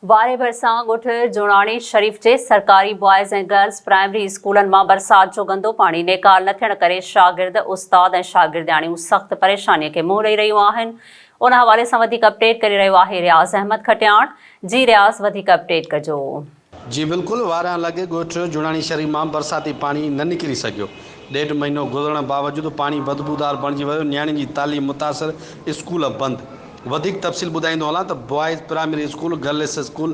واري ڀرسان ڳوٺ جوڻاڻي شريف جي سرڪاري بوائز ۽ گرلز پرائمري اسڪولن مان برسات جو گندو پاڻي نيڪال نه ٿيڻ ڪري شاگرد، استاد ۽ شاگردياڻيون سخت پريشاني کي منهن ڏئي رهيون آهن ان حوالي سان وڌيڪ اپڊيٽ ڪري رهيو آهي رياض احمد کٽياڻ جي رياض وڌيڪ اپڊيٽ ڪجو. جي بلڪل واريان لڳ ڳوٺ جوڻاڻي شريف مان برساتي پاڻي نه نڪري سگهيو ڏيڍ مهينو گذرڻ باوجود پاڻي بدبودار بڻجي ويو، نياڻين جي تعليم متاثر، اسڪول بند. وڌيڪ تفصيل ٻڌائيندو هلان ته boys primary school, girls school,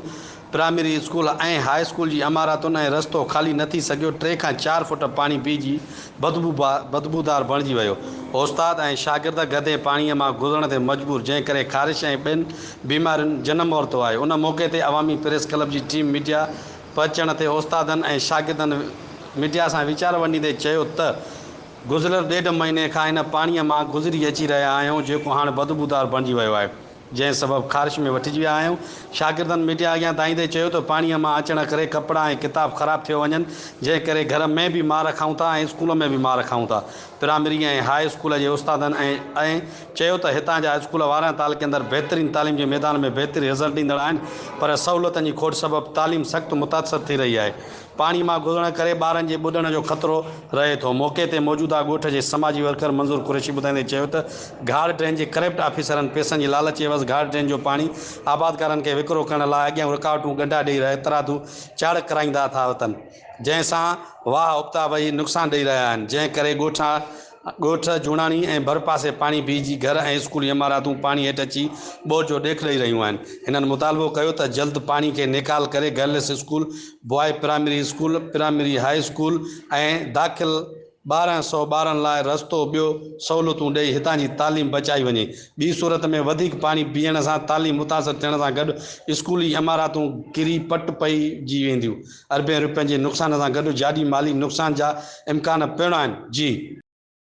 primary school ۽ high school جي عماراتن ۽ رستو خالي نه ٿي سگهيو، ٽي کان چار فوٽ پاڻي بيهجي بدبودار بڻجي ويو، استاد ۽ شاگرد گدي پاڻي مان گذرڻ تي مجبور، جنهن ڪري خارش ۽ ٻين بيمارين جنم ورتو آهي، ان موقعي تي عوامي پريس ڪلب جي ٽيم ميڊيا. پهچڻ تي استادن ۽ شاگردن ميڊيا سان ويچار ونڊيندي چيو ته گذريل ڏيڍ مهيني کان هن پاڻي مان گذري اچي رهيا آهيون جيڪو هاڻ بدبودار بڻجي ويو آهي جنهن سبب خارش ۾ وٺجي ويا آهيون شاگردن ميڊيا اڳيان دانهيندي چيو ته پاڻي مان اچڻ ڪري ڪپڙا ۽ ڪتاب خراب ٿيو وڃن جنهن ڪري گهر ۾ به مار کائون ٿا ۽ اسڪول ۾ به مار کائون ٿا پرائمري ۽ هاء اسڪول جي استادن ۽ چيو ته هتان جا اسڪول وارهن تعلقي اندر بهترين تعليم جي ميدان ۾ بهترين رزلٽ ڏيندڙ آهن پر سهولتن جي کوٽ سبب تعليم سخت متاثر ٿي رهي آهي پاڻي مان گذرڻ ڪري ٻارن جي ٻڏڻ جو خطرو رهي ٿو موقعي تي موجوده ڳوٺ جي سماجي ورڪر منظور قريشي ٻڌائيندي چيو ته گهاڙ ڊرين جي ڪرپٽ آفيسرن پيسن جي لالچ عيوض گهاڙ ڊرين جو پاڻي آبادگارن کي وڪرو ڪرڻ لاء اڳيان رڪاوٽون ڳنڍا ڏئي رهي ترادو چاڙهڪ ڪرائيندا ٿا وتن جنهن سان واهه ابتا وهي نقصان ڏئي رهيا آهن، جنهن ڪري ڳوٺا ڳوٺ جوڻاڻي ۽ ڀرپاسي پاڻي بيهجي گهر ۽ اسڪولي عماراتون پاڻي هيٺ اچي ٻوڏ جو ڏيک ڏئي رهيون آهن. هنن مطالبو ڪيو ته جلد پاڻي کي نيڪال ڪري girls school, boy primary school, primary high school ۽ داخل. ٻارهن سؤ ٻارن لاء رستو ٻيو سهولتون ڏئي هتان جي تعليم بچائي وڃي ٻي صورت ۾ وڌيڪ پاڻي پيئڻ سان تعليم متاثر ٿيڻ سان گڏ اسڪولي عماراتون ڪري پٽ پئي جي وينديون اربين روپين جي نقصان سان گڏ جاڏي مالي نقصان جا امڪان پڻ آهن جي